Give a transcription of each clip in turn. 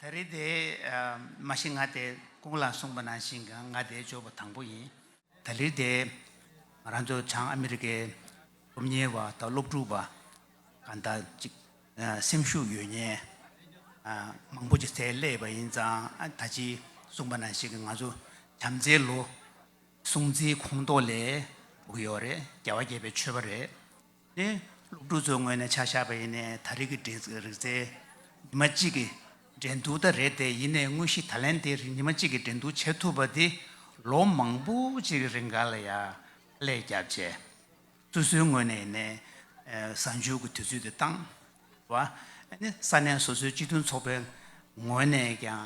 ད་རེས་དེ་མ་ཤི་ང་དེ་ཀུན་ལ་གསུངས་པ་ནང་བཞིན་གྱང་ང་དེ་བཅོས་པ་དང་པོ་ཡིན། ད་ལིར་དེ་ང་རང་ཚོ་བྱང་ཨ་མི་རི་ཀའི་སློབ་གཉེར་བ་དང་སློབ་ཕྲུག་པ་གང་དག་ཅིག་སེམས་ཤུགས་ཡོད་ཉེན་མང་པོ་ཅིག་བཙལ་སླེས་པ་ཡིན་ཙང་ད་ཅིའི་གསུངས་པ་ནང་བཞིན་གྱི་ང་ཚོ་བྱམས་བརྩེའི་ལོ་སྲུང་བརྩིའི་ཁོངས་གཏོགས་ལས་གྲུབ་ཀྱི་ཡོད་རེད་རྒྱལ་བ་དགྱེས་པའི་མཆོད་པ་རེད། ནི་སློབ་ཕྲུག་ཚོའི་ངོས་ནས་ཆ་བཞག་པ་ཡིན་ནས་ད་རེས་ཀྱི་རིག་རྩལ་ཉི་མ་གཅིག་གི་འགྲན་བསྡུར་ད་རེད་དེ་ཡིན་ནས་དངོས་གཞི་ད་ལན་དེ་རིང་ཉི་མ་གཅིག་གི་འགྲན་བསྡུར་བྱེད་ཐུབ་པ་དེ་ལོ་མང་པོ་གཅིག་གི་རིང་ག་ལ་ཡག་ཀླད་རྒྱག་བྱས། སོ་སོའི་ངོས་ནས་ཡིན་ནས་གཟའ་མཇུག་གི་དུས་ཚོད་དེ་བཏང་བ། ནི་ས་གནས་སོ་སོའི་སྤྱི་མཐུན་ཚོགས་པའི་ངོས་ནས་ཀྱང་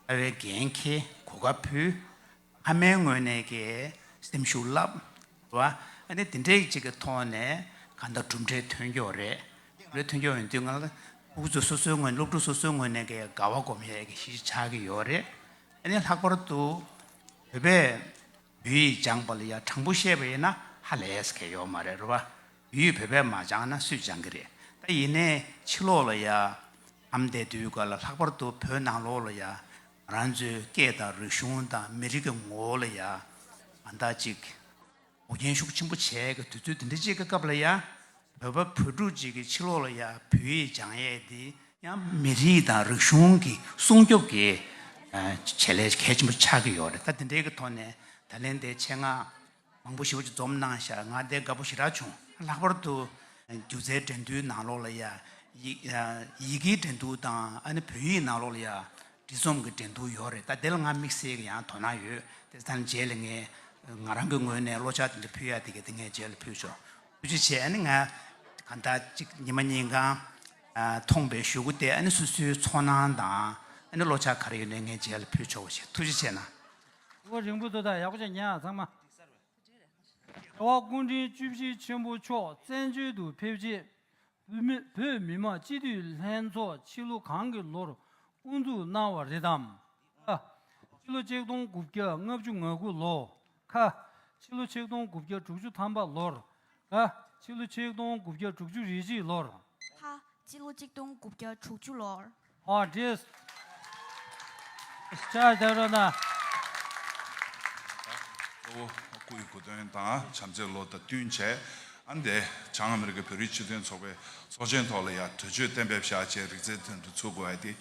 ལྟ་བའི་འགན་འཁྱེར་གོ་སྐབས་ཕུལ། ཨ་མའི་ངོས་ནས་ཀྱི་སེམས་ཤུགས་རླབས། བ། ཨ་ནི་དེ་འདྲའི་ཅིག་གི་ཐོག་ནས་གང་ལྟར་གྲུབ་འབྲས་ཐོན་ཀྱོག་རེད། གྲུབ་འབྲས་ཐོན་ཀྱོག་ཡིན་དུས་ང་ལ་ཨུ་ཚུགས་སོ་སོའི་ངོས་སློབ་ཕྲུག་སོ་སོའི་ངོས་ནས་ཀྱི་དགའ་བ་སྒོམ་ཡས་ཀྱི་གཞི་ཆགས་ཀྱི་ཡོད་རེད། ཨ་ནི་ལྷག་པར་དུ་བོད་པས་བོད་ཡིག་སྦྱངས་པ་ལ་ཡ་དྲང་པོ་བཤད་པ་ཡིན་ན་ཧ་ལས་སྐལ་ཡོད་མ་རེད་རོ། བ། བོད་ཡིག་བོད་པས་མ་སྦྱངས་ན་སུས་སྦྱངས་ཀྱི་རེད། ད་ཡིན་ནའི་ཕྱི་ལོགས་ལ་ཡ། ཨམ་བསྡད་དུས་ག་ལ་ལྷག་པར་དུ་བོད་ནང་ལོགས་ལ་ཡ། རང་ཚོའི་སྐད་དང་རིག་གཞུང་དང་མི་རིགས་ཀྱི་ངོ་བོ་ལ་ཡང་ཨ་འདག་ཅིག་གོ་རྒྱན་ཤུགས་ཆེན་པོ་བྱས་ཀྱི་དུས་ཚོད་དེ་འདྲ་ཅིག་གི་སྐབས་ལ་ཡང་བོད་པ་བོད་ཕྲུག་ཅིག་གི་ཕྱི་ལོགས་ལ་ཡང་བོད་ཡིག་སྦྱང་ཡས་དེ་ཡང་མི་རིགས་དང་རིག་གཞུང་གི་སྲུང་སྐྱོབ་ཀྱི་བྱེད་ལས་གལ་ཆེན་པོ་ཆགས་ཀྱི་ཡོད་རེད་ད་དེ་འདྲའི་གི་ཐོག་ནས་ད་ལན་དེ་ཆེད་མངགས། མང་པོ་ཞིག་བོད་ཀྱི་འཛོམས་གནང་ཤག་ང་བདེ་དགའ་པོ་ཞིག་རག་བྱུང། ལྷག་པར་དུ། སྒྱུ་རྩལ་འགྲན་བསྡུར་ནང་ལོགས་ལ་ཡང། ཡི་གེའི་འགྲན་བསྡུར་དང་ཨ་ནི་བོད་ཡིག་ནང་ལོགས་ལ་ཡང། འབྲི་རྩོམ་གྱི་འགྲན་བསྡུར་ཡོད་རེད་ད་དེ་ལ་ང་དམིགས་བསལ་གྱི་ཡང་དོ་སྣང་ཡོད་དེ་ལྟར་ན་རྗེས་ལ་ངས། ང་རང་གི་ངོས་ནས་བློ་ཕྱག་དེ་འདྲ་ཕུལ་ཡག་དེ་གས་དེ་ངས་རྗེས་ལ་ཕུལ་ཆོག་ཐུགས་རྗེ་ཆེ་ཨ་ནི་ང། གང་ལྟར་གཅིག་ཉི་མ་གཉིས་གང། ཐོངས་པའི་ཞུ་སྒོ་དེ་ཨ་ནི་སུ་སུའི་ཚོར་སྣང་དང། ཨ་ནི་བློ་ཕྱག་ག་རེ་ཡོད་ནས་ངས་རྗེས་ལ་ཕུལ་ཆོག་པ་ཞིག་ཐུགས་རྗེ་ཆེ་གནང། དབོན་རིང་པོ་དོ་བདག་ཡག་པོ་བྱས་ཉེས་ཚང་མ། རྒྱལ་བ་སྐུ་འཕྲེང་བཅུ་བཞི་ཆེན་པོ་མཆོག་བཙན་བྱོལ་དུ་ཕེབས་རྗེས། བོད་མི་མང་སྤྱི་འཐུས་ལྷན་ཚོགས་ཕྱི་ལོ་གང་གི་ལོར་དབུ་འཛུགས་གནང་བ་རེད་དམ། ཨ། ཕྱི་ལོ་ཆིག་སྟོང་དགུ་བརྒྱ་ལྔ་བཅུ་ང་དགུ་ལོ། ཁ། ཕྱི་ལོ་ཆིག་སྟོང་དགུ་བརྒྱ་དྲུག་ཅུ་ཐམ་པ་ལོར། ཨ། ཕྱི་ལོ་ཆིག་སྟོང་དགུ་བརྒྱ་དྲུག་ཅུ་རེ་གཅིག་ལོར། ཁ། ཕྱི་ལོ་ཆིག་སྟོང་དགུ་བརྒྱ་དྲུག་ཅུ་ལོར། Artist Star Dharana། གཙོ་བོ་སྐུ་ཡི་གོ་དོན་དང་བྱམས་བརྩེའི་བློ་དང་བསྟུན་བྱས། ཨ་འདས་བྱང་ཨ་མེ་རི་ཀའི་བོད་རིགས་སྤྱི་མཐུན་ཚོགས་པའི་ཚོགས་ཆེན་ཐོག་ལ་ཡང་དོན་གཅོད་གཏན་འབེབས་བཞག་ཅེས་རིག་རྩལ་དོན་དུ་ཚུགས་དགོས་ཨ་འདས།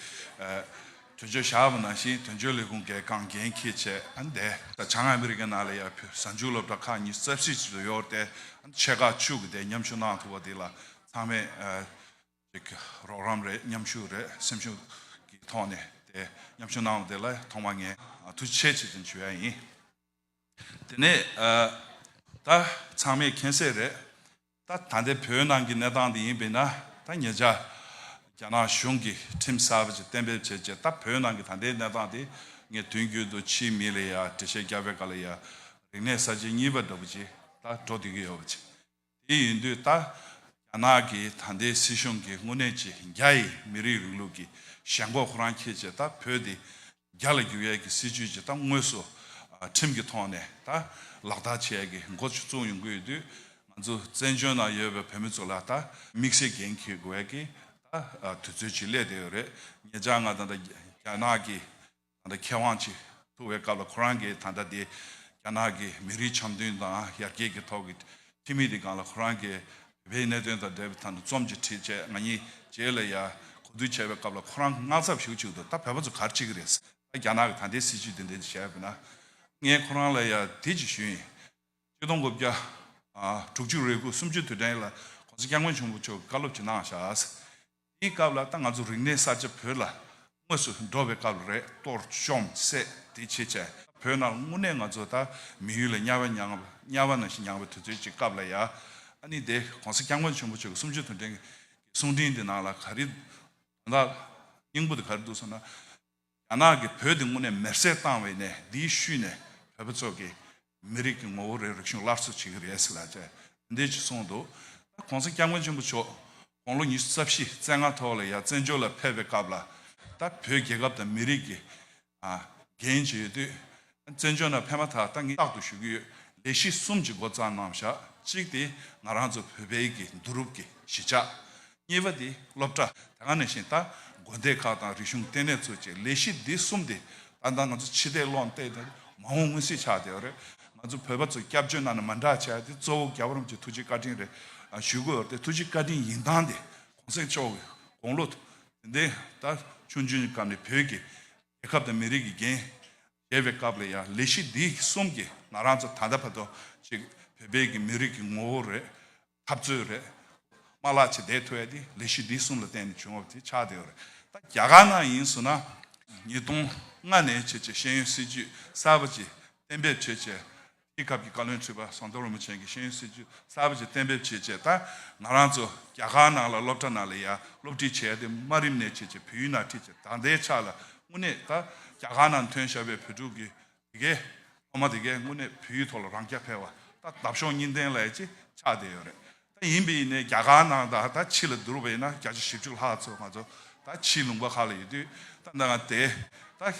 དོན་གཅོད་བཞག་པ་ནང་བཞིན་དོན་གཅོད་ལས་ཁུངས་ཀྱི་ཁང་འགན་ཁུར་ཆེད་ཨ་འདས་བྱང་ཨ་མེ་རི་ཀའི་ནང་ལ་ཡང་བོད་གཟའ་མཇུག་སློབ་གྲྭ་ཁག་གཉིས་རྩ་བཞིའི་གཅིག་ཏུ་གཡོར་ཏེ་ཆེད་ཁག་བཅུ་གི་དེ་མཉམ་ཞུགས་གནང་ཐུབ་པ་དེ་ལ་ཚང་མས་ཅིག་རོགས་རམ་རེད་མཉམ་ཞུགས་རེད་སེམས་ཤུགས་ཀྱི་ཐོག་ནས་དེ་མཉམ་ཞུགས་གནང་བ་དེ་ལ་ཐོག་མ་ངས་ཐུགས་ཆེ་ཆེ་ཙམ་ཞུ་ཡ་ཡིན། དེ་ནས་ད་ཚང་མས་མཁྱེན་གསལ་རེད་ད་ད་ལྟའི་བོད་ནང་གི་གནས་སྟངས་དེ་ཡིན་པས་ན་ད་ངེད་ཅག་རྒྱ་ནག་གཞུང་གི་ཁྲིམས་གསར་བ་ཅིག་གཏན་འབེབས་བྱས་རྗེས་ད་བོད་ནང་གི་ད་ལྟའི་གནས་སྟངས་དེ་ངས་དུས་རྒྱུན་དུ་ཕྱིའི་མི་ལ་ཡང་འགྲེལ་བཤད་རྒྱག་པའི་སྐབས་ལ་ཡང་རིག་གནས་གསར་བརྗེ་གཉིས་པ་འདྲ་པོ་ཅིག་ད་འགྲོ་སྡོད་ཀྱི་ཡོད་པ་ཅིག། དེ་ཡིན་དུས་ད་རྒྱ་ནག་གི་ད་ལྟའི་སྲིད་གཞུང་གི་དངོས་གནས་ཀྱི་རྒྱ་ཡི་མི་རིགས་རིང་ལུགས་ཀྱི་ཞེན་ཁོག་ཁོ་རང་ཁྱེད་ཅེས་ད་བོད་དེ་རྒྱ་ལ་བསྒྱུར་ཡས་ཀྱི་སྲིད་ཇུས་ཀྱི་ད་དངོས་སུ་ཁྲིམས་ཀྱི་ཐོག་ནས་ད་ལག་བསྟར་བྱས་ཡས་ཀྱི་མགོ་བཙུགས་ཡོང་གི་ཡོད་དུས་ང་ཚོ་བཙན་བྱོལ་ནང་ཡོད་པའི་བོད་མི་ཚོ་ལ་ད་མིག་སེར་གྱེན་འཁྱེར་དགོས་ཡས་ཀྱི་ད་དུས་ཚོད་ཅིག་སླེབས་བསྡད་ཡོད་རེད་ངེད་ཅག་ང་དང་ད་རྒྱ་ནག་གི་ད་ལྟ་མཁས་དབང་ཆེས་ཐུག་བའི་སྐབས་ལ་ཁོ་རང་གིས་ད་ལྟ་དེ་རྒྱ་ནག་གི་མི་རིགས་འཆམ་མཐུན་དང་ཡར་རྒྱས་ཀྱི་ཐོག་གི་ཁྲིམས་མི་དེ་གང་ལ་ཁོ་རང་གིས་བོད་པའི་གནད་དོན་དང་འབྲེལ་བའི་ཐང་དུ་རྩོམ་གྱི་ཁྲིད་བཅས་ང་གཉིས་བཅས་ལ་ཡར་གོ་བསྡུར་བྱས་པའི་སྐབས་ལ་ཁོ་རང་གིས་དངངས་འཚབ་ཞུ་གཅིག་ཏུ་ད་བོད་པ་ཚོ་གར་ཆས་ཀྱི་རེད་ཟེར་ད་རྒྱ་ནག་གི་ད་ལྟའི་སྲིད་བྱུས་དེ་འདྲའི་བྱས་པས་ན་ངས་ཁོ་རང་ལ་ཡར་དེ་གཅིག་ཞུ་ཡིན། སྤྱི་སྟོང་དགུ་བརྒྱ་དྲུག་ཅུ་རེ་དགུ་སུམ་ཅུ་དུས་དྲན་ཡིག་ལ་གོང་ས་སྐྱབས་མགོན་ཆེན་པོ་མཆོག་གིས་བཀའ་སློབ་ཅིག་གནང་བཞག་ཟེར། དེའི་སྐབས་ལ་ད་ང་ཚོ་རིག་གནས་གསར་བརྗེ་བོད་ལ་དངོས་སུ་འགྲོ་བའི་སྐབས་ལ་རེད་གཏོར་བཅོམ་བསད་དེ་བྱེད་བྱས་བོད་ནང་དངོས་གནས་ང་ཚོ་ད་མི་ཡུལ་ལ་དམྱལ་བ་མྱངས་དམྱལ་བ་ནང་བཞིན་མྱངས་བའི་དུས་ཚོད་ཅིག་སྐབས་ལ་ཡ་ཨ་ནི་དེ་གོང་ས་སྐྱབས་མགོན་ཆེན་པོ་ཆོས་ཀྱི་སུམ་ཅུ་དོན་ཕྲེང་གི་གསུང་འཕྲིན་དེ་ནང་ལ་ག་རེ་དོན་དག་སྙིང་པོ་དེ་ག་རེ་འདུག་ཟེར་ན། རྒྱ་ནག་གིས་བོད་དེ་དངོས་གནས་མེར་བསྲེགས་བཏང་བའི་གནས་འདིའི་ཤུལ་ནས་བོད་པ་ཚོ་གིས་མི་རིགས་ཀྱི་ངོ་བོ་རེའི་རིག་གཞུང་སླར་གསོ་བྱེད་ཀྱི་རེད་ཟེར་ལ་ཅེས་རེ་འདོད་ཀྱིས་གསུངས་འདུག་ད་གོང་ས་སྐྱབས་མགོན་ཆེན་པོ་མཆོག་དགུང་ལོ་ཉི་ཤུ་རྩ་བཞི་རྩེ་ལྔ་ཐོག་ལ་ཡར་བཙན་བྱོལ་ལ་ཕེབས་པའི་སྐབས་ལ་ད་བོད་རྒྱལ་ཁབ་དང་མི་རིགས་ཀྱི་འགན་བཞེས་དུས་བཙན་བྱོལ་ནང་ཕེབས་མ་ཐག་ད་ངས་རྟག་ཏུ་ཞུ་གི་ཡོད་ལས་གཞི་གསུམ་གྱི་འགོ་རྩ་གནང་བཞག་གཅིག་དེ་ང་རང་ཚོ་བོད་པའི་གི་འདུ་རུབ་ཀྱི་གཞི་ཆགས། གཉིས་པ་དེ་སློབ་གྲྭ་དེ་ག་ནས་བཞིན་ད་དགོན་སྡེ་ཁག་དང་རིག་གཞུང་ལྟེ་གནས་ཚོ་བཅས་ལས་གཞི་འདི་གསུམ་དེ་ད་ལྟ་ང་ཚོ་ཕྱི་ལྟས་བློ་ལྟས་དེ་མ་འོངས་སྔོན་སྲིད་ཆགས་དེ་རེད་ང་ཚོ་བོད་པ་ཚོ་སྐྱབས་བཅོལ་གནང་ནས་མ་འདྲ་བྱས་དེ་གཙོ་བོ་རྒྱ་བོད་རུམ་གྱི་ཐུགས་རྗེ་བཀའ་དྲིན་རེད་ཞུ་གི་ཡོད་དེ་ཐུགས་རྗེ་བཀའ་དྲིན་ཡིན་སྟངས་དེ་གོང་གསལ་ཕྱོགས་ཀྱི་དགོངས་བློ་དེ་འདི་ད་ཆུང་ཆུང་གི་སྐབས་ནས་བོད་ཀྱི་རྒྱལ་ཁབ་དང་མི་རིགས་ཀྱི་འགན་བཞེས་པའི་སྐབས་ལ་ཡང་ལས་གཞི་འདི་གསུམ་གྱིས་ང་རང་ཚོ་ད་ལྟ་བར་དུ་ཞིག་བོད་པའི་གི་མི་རིགས་ཀྱི་ངོ་བོ་རེད། འཐབ་རྩོད་རེད། མ་ལག་ཆེ་བསྡད་ཐུབ་ཡ་དེ་ལས་གཞི་འདི་གསུམ་ལ་བརྟེན་ནས་བྱུང་བ་དེ་ཆགས་བསྡད་ཡོད་རེད། ད་རྒྱ་གར་ནང་ཡིན་ཟུར་ན་ཉིས་སྟོང་ལྔ་ནས་བྱེད་ཆེད་ཤེས་ཡོན་སྲིད་ཇུས་གསར་པ་ཅིག་གཏན་འབེབས་བྱེད་ཆེད་རྒྱལ་ཁབ་ཀྱི་བཀའ་བློན་ཁྲི་པ་ཟམ་གདོང་རིན་པོ་ཆེན་གྱིས་ཤེས་ཡོན་སྲིད་ཇུས་གསར་པ་ཞིག་གཏན་འབེབས་བྱས་རྗེས་ད་ང་རང་ཚོ་རྒྱ་གར་ནང་ལ་སློབ་གྲྭ་ནང་ལ་ཡར་སློབ་ཁྲིད་བྱས་ཏེ་དམའ་རིམ་ནས་བྱས་རྗེས་བོད་ཡུལ་ནང་ཁྲིད་ཆེད་ད་ལྟའི་ཆར་ལ་དངོས་གནས་ད་རྒྱ་གར་ནང་ཐོན་ཤར་བའི་བོད་ཕྲུག་གི་དེ་གའི་སློབ་མ་དེ་གས་དངོས་གནས་བོད་ཡིག་ཐོག་ལ་རང་སྐྱ་འཕེར་བ་ད་འདབ་གཤོག་གཉིས་ལྡན་ལས་ཅི་ཆགས་བསྡད་ཡོད་རེད། ད་ཡིན་པའི་ནས་རྒྱ་གར་ནང་ད་ད་ཕྱི་ལ་འདུར་བས་ན་བརྒྱ་ཆ་བཞི་བཅུ་ལྷག་ཚོ་ང་ཚོ་ད་ཕྱིའི་ལུང་པ་ཁག་ལ་ཡོད་དུས་ད་འདང་ང་དེ་ད་བྱང་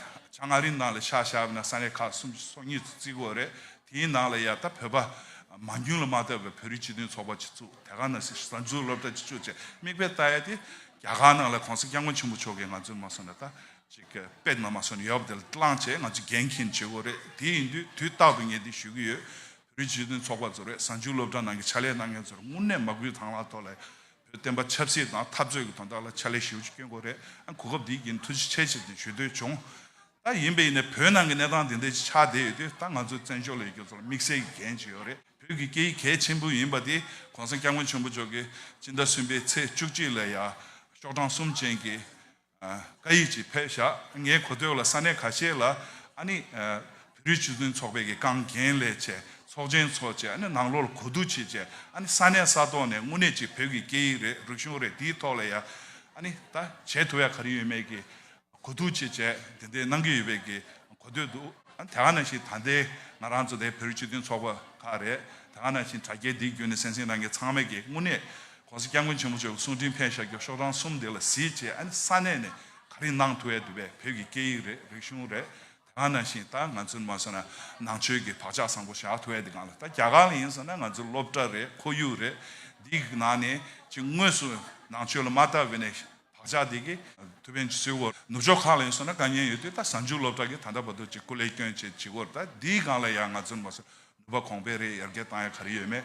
མངའ་རིས་ནང་ལ་ཤག་ཤག་བས་ན་ས་གནས་ཁག་གསུམ་སོ་གཉིས་ཚོ་བརྩིགས་དགོས་རེད་དེའི་ནང་ལ་ཡང་ད་བོད་པ་མ་རྒྱུན་ལ་མ་ལྟ་བའི་བོད་རིགས་སྤྱི་མཐུན་ཚོགས་པ་གཅིག་བཙུགས་དེ་ག་ནང་སྲིད་གཞུང་ད་འཛུགས་སློབ་གྲྭ་གཅིག་བཙུགས་བཅས་དམིགས་དཔེ་ལྟ་ཡ་དེ་རྒྱ་གར་ནང་ལ་གོང་ས་སྐྱབས་མགོན་ཆེན་པོ་མཆོག་གིས་ང་ཚོ་མ་སོན་ན་ད་ཅིག་གི་པད་མ་མ་སོན་ཡོད་པ་དེ་ལ་བླངས་བྱས་ང་ཚོ་འགན་འཁྱེར་ནས་བྱེད་དགོས་རེད་དེ་ཡིན་དུས་དུས་རྟག་ཏུ་ངས་འདི་ཞུ་གི་ཡོད་བོད་རིགས་སྤྱི་མཐུན་ཚོགས་པ་ཚོར་བས་གཟའ་མཇུག་སློབ་གྲྭ་ནང་གི་ཕྱག་ལས་གནང་མཁན་ཚོར་དངུལ་གནས་མ་དགོས་དང་ལ་ཐོ་ལ་བོད་བསྟན་པ་ཆབ་སྲིད་དང་འཐབ་རྩོད་ཀྱི་དོན་དག་ལ་ཕྱག་ལས་ཞུ་སྐྱོན་གོ་རེ་ཨང་གོ་སྐབས་འདི་ཡིན་ཐུགས་རྗེ་ཆེ་ཆེ་བདེན་ཞུ་འདོད་བྱུང། ད་ཡིན་པས་ཡིན་ནས་བོད་ནང་གི་གནས་སྟངས་དེ་འདྲའི་ཆགས་བསྡད་ཡོད་དུས་ད་ང་ཚོའི་བཙན་བྱོལ་ལ་ཡོད་མཁན་ཚོ་ལ་དམིགས་བསལ་གྱི་འགན་ཅི་ཡོད་རེད་བོད་ཀྱི་སྐད་ཡིག་གལ་ཆེན་པོ་ཡིན་པ་དེ་གོང་ས་སྐྱབས་མགོན་ཆེན་པོ་མཆོག་གིས་སྤྱི་ཟླ་གསུམ་པའི་ཚེས་བཅུ་གཅིག་ལ་ཡ། ཤོག་གྲངས་གསུམ་ཅན་གྱི། བཀའ་ཡིག་ཅིག་ཕེབས་ཤག་ངའི་གོ་ཐོས་ལ་ས་གནས་ཁ་ཤས་ལ་ཨ་ནི། བོད་རིགས་སྤྱི་མཐུན་ཚོགས་པའི་གི་རྐང་རྒན་ལས་བྱེད་ཚོགས་ཆེན་ཚོ་བཅས་ཨ་ནི་ནང་ལོག་ལ་གོ་བསྡུར་བྱེད་ཆེད་ཨ་ནི་ས་གནས་ས་ཐོག་ནས་དངོས་གནས་ཅིག་བོད་ཀྱི་སྐད་ཡིག་རེད་རིག་གཞུང་རེད་དེའི་ཐོག་ལ་ཡ་ཨ་ནི་ད་བྱེད་ཐུབ་ཡ་ག་རེ་ཡོད་མེད་གི་གོ་བསྡུར་བྱེད་ཆེད་དེ་འད་གནང་གི་ཡོད་པའི་གི་གོ་ཐོས་འདུག་ཨ་ནི་དེ་ག་ནང་བཞིན་ད་འདའི་ང་རང་ཚོ་འདའི་བོད་རིགས་སྤྱི་མཐུན་ཚོགས་པ་ཁག་རེད་དེ་ག་ནང་བཞིན་དྲ་རྒྱའི་འདིའི་བརྒྱུད་ནས་སེམས་སེམས་ནང་གི་ཚང་མས་གི་དངོས་གནས་གོང་གསལ་སྐྱབས་མགོན་ཆེན་པོ་མཆོག་གི་གསུང་འཕྲིན་ཕེབས་ཤག་རྒྱོབ་ཤོག་རང་གསུམ་འདི་ལ་གཟིགས་ཅེས་ཨ་ནི་ས་གནས་ནས་ག་རེ་གནང་ཐུབ་ཨེ་འདུག་བས་བོད་ཀྱི་སྐད་ཡིག་རེད་རིག་གཞུང་རེད་དེ་གང་ནང་བཞིན་ད་ང་ཚོས་མ་བཟོ་ན་ནང་ཆོས་ཀྱི་བག་ཆགས་བཟང་པོ་བཞག་ཐུབ་ཨེ་འདི་གང་ལ་ད་རྒྱ་གར་ལ་ཡིན་བཟོ་ན་ང་ཚོ་སློབ་གྲྭ་རེད་ཁོར་ཡུག་རེད་འདི་གི་ནང་ནས་ཅི་དངོས་སུ་ནང་ཆོས་ལ་མ་ལྟ་བས་ནས་བག་ཆགས་འདི་གི་ཐུབ་ཕན་ཅི་སོའོ་ནུབ་ཕྱོགས་ཁག་ལ་ཡིན་བཟོ་ན་དཀའ་ཉེན་ཡོད་དུས་ད་གཟའ་མཇུག་སློབ་གྲྭ་གི་ད་ལྟ་བར་དུ་ཅི་སྐུ་ལས་སྐྱོན་བྱེད་ཅི་དགོས་རེད་ད་འདི་གང་ལ་ཡ་ང་ཚོར་མ་བཟོ་ནུས་པ་གོང་འཕེལ་རེ་ཡར་རྒྱས་བཏང་ཡ་ག་རེ་ཡོད་མེད་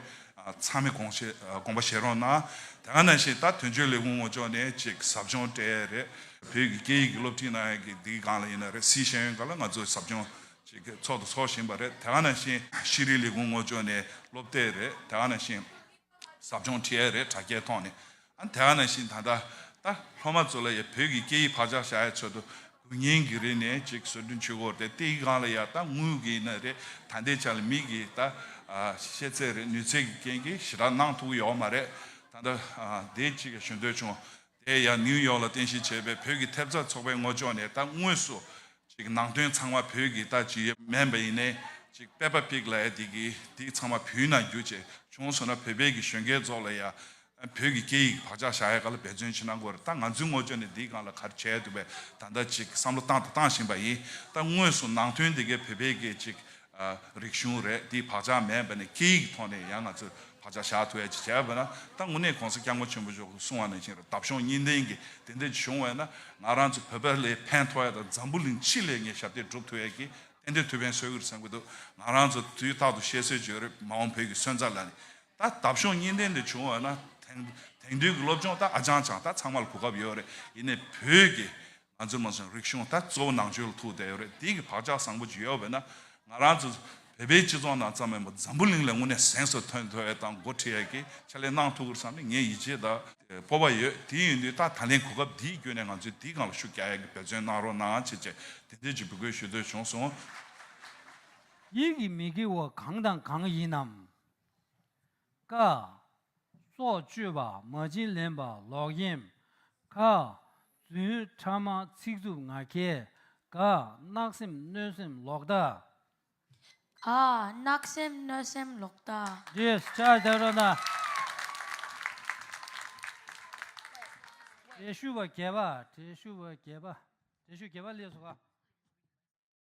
ཚང་མས་དགོངས་པ་བཞེས་རོགས་གནང། དེང་ནང་བཞིན་ད་དོན་གཅོད་ལས་ཁུངས་ངོ་ཅོག་ནས་ཅིག་ཟབ་སྦྱོང་སྤྲད་ཡ་རེད། བོད་ཀྱི་སྐད་ཡིག་གི་སློབ་ཁྲིད་གནང་ཡ་གི་དེའི་སྒང་ལ་ཡིན་ན་རེད་སཱི་ཤེས་ཡོན་སྒང་ལ་ང་ཚོ་ཟབ་སྦྱོང་ཅིག་ཚོགས་དང་ཚོགས་བཞིན་པ་རེད་དེང་ནང་བཞིན་ཤེས་རིག་ལས་ཁུངས་ངོ་ཅོག་ནས་སློབ་སྟེགས་རེད་དེང་ནང་བཞིན། ཟབ་སྦྱོང་ཁྲི་ཨེ་རེ་དྲ་རྒྱའི་ཐོག་ནས་ཨ་དྷ་ན་ཤིན་ད་ད་ད་སློབ་མ་ཚོ་ལ་ཡ་བོད་ཀྱི་སྐད་ཡིག་བག་ཆགས་བྱ་ཡ་ཚོད་དུ་དགུ་ཉིན་གི་རིང་ནས་ཅིག་བཟོ་སྐྲུན་ཆུ་བོར་དེ་ཏེ་ཡི་གང་ལ་ཡ་ད་དངུལ་གི་ན་རེ་ད་འདེད་ཆ་ལ་མིག་གི་ད་ཤེས་ཚད་རེ་ནུས་ཚད་ཀྱི་རྐྱེན་གྱིས་ཞི་དྲག་གནང་ཐུག་ཡོད་མ་རེད་ད་ད་དེ་ཅིག་ཞུ་འདོད་བྱུང་དེ་ཡང་ནིའུ་ཡོག་ལ་རྟེན་གཞི་བྱས་པའི་བོད་ཀྱི་ཐེབས་རྩ་ཚོགས་པའི་ངོ་ཅོག་ནས་ད་དངོས་སུ། ནང་དོན་ཚང་མ་བོད་ཀྱི་ལྟ་ཇི་ཡོད་མན་པ་ཡིན་ནའི། Peppa Pig ལ་ཡང་དེ་དེ་ཚང་མ་བོད་ནང་བསྒྱུར་བྱས་བྱུང་སོང་ན་བོད་པའི་གི་གཞོན་སྐྱེས་ཚོགས་ལ་ཡང། བོད་ཀྱི་སྐད་ཡིག་གི་བག་ཆགས་བཞག་ཡ་ག་ལ་འབད་བརྩོན་བྱེད་ན་འགོ་རེད་ད་ང་ཚོའི་ངོ་ཅོག་ནས་དེའི་སྒང་ལ་ག་རེ་བྱས་ཡ་འདུག་པའི་ད་ལྟ་བསམ་བློ་བཏང་དང་བཏང་བཞིན་པ་ཡིན་ད་དངོས་སུ་ནང་དོན་དེ་གའི་བོད་པའི་གི་རིག་གཞུང་རེད་དེའི་བག་ཆགས་མེད་པ་ནས་སྐད་ཡིག་ཐོག་ནས་ཡང་ང་ཚོས་བག་ཆགས་བཞག་ཐུབ་ཡ་ཅེས་བྱས་པ་ན་ད་དངོས་གནས་གོང་ས་སྐྱབས་མགོན་ཆེན་པོ་མཆོག་གིས་གསུང་བ་ནང་བཞིན་ར་འདབ་གཞོང་གཉིས་ལྡན་གྱི་དེ་འདྲ་ཅིག་བྱུང་བས་ན་ང་རང་ཚོ་བོད་པའི་ལས་ཕན་ཐོགས་ཡ་དང་འཛམ་བུ་གླིང་ཕྱི་ལས་ངས་ཞབས་འདེགས་བསྒྲུབ་ཐུབ་ཡ་གི་ཏན་ཏན་ཐུགས་ཕན་གསོས་ཁུལ་བསམ་གྱི་འདུག་ང་རང་ཚོ་དུས་རྟག་ཏུ་བཤད་སྲོལ་བརྗོད་རེད་མ་འོངས་བོད་ཀྱི་སོན་རྩ་ལ་ནི་ད་འདབ་གཞོང་གཉིས་ལྡན་འདི་བྱུང་བ་ན་དེང་དུས་ཀྱི་སློབ་སྦྱོང་ད་ཨ་ཅང་ཅང་ད་ཚང་མ་ལ་གོ་སྐབས་ཡོད་རེད་ཡིན་ནས་བོད་ཀྱི་ང་ཚོའི་མ་སོན་རིག་གཞུང་ད་གཙོ་བོ་ནང་ཆོས་ལ་ཐུག་བསྡད་ཡོད་རེད་དེ་གི་བག་ཆགས་བཟང་པོ་ཇི་ཡོད་བས་ན་ང་རང་ཚོ་བལ་བོའི་སྤྱི་ཚོགས་ནང་ཙམ་མིན་པར་འཛམ་བུ་གླིང་ལས་དངོས་གནས་གཟེངས་སུ་ཐོན་ཐུབ་ཡོད་དང་འགོ་ཁྲིད་ཡས་ཀྱིས་ཕྱག་ལས་གནང་ཐུབ་གི་རེད་བསམ་ནས་ངས་ཡིད་ཆེས་དང་སྤོབས་པ་ཡོད་དེ་ཡིན་དུས་ད་ད་ལན་གོ་སྐབས་འདིའི་བརྒྱུད་ནས་ང་ཚོས་དེའི་སྒང་ལ་ཤུགས་རྒྱག་ཡས་ཀྱི་འབད་བརྩོན་གནང་རོགས་གནང་ཆེ་ཆེ་དེ་འདོད་ཀྱི་འབོད་སྐུལ་ཞུ་འདོད་བྱུང་སོང། ཡིད་ཀྱི་མི་དགེ་བ་གང་དང་གང་ཡིན་ནམ། ཀ། སྲོག་གཅོད་པ་མ་བྱིན་ལེན་པ་ལོག་གཡེམ། ཁ། རྫུན་ཕྲ་མ་ཚིག་རྩུབ་ང་རྒྱལ། ག། གནག་སེམས་གནོད་སེམས་ལོག་ལྟ། ག། གནག་སེམས་གནོད་སེམས་ལོག་ལྟ། འདིར་ཕྱག་བྱ་རོགས་གནང། བྲེ་ཤུ་བ་བརྒྱད་པ་བྲེ་ཤུ་བ་བརྒྱད་པ་བྲེ་ཤུ་བརྒྱད་པ་ལས་སུ་ག།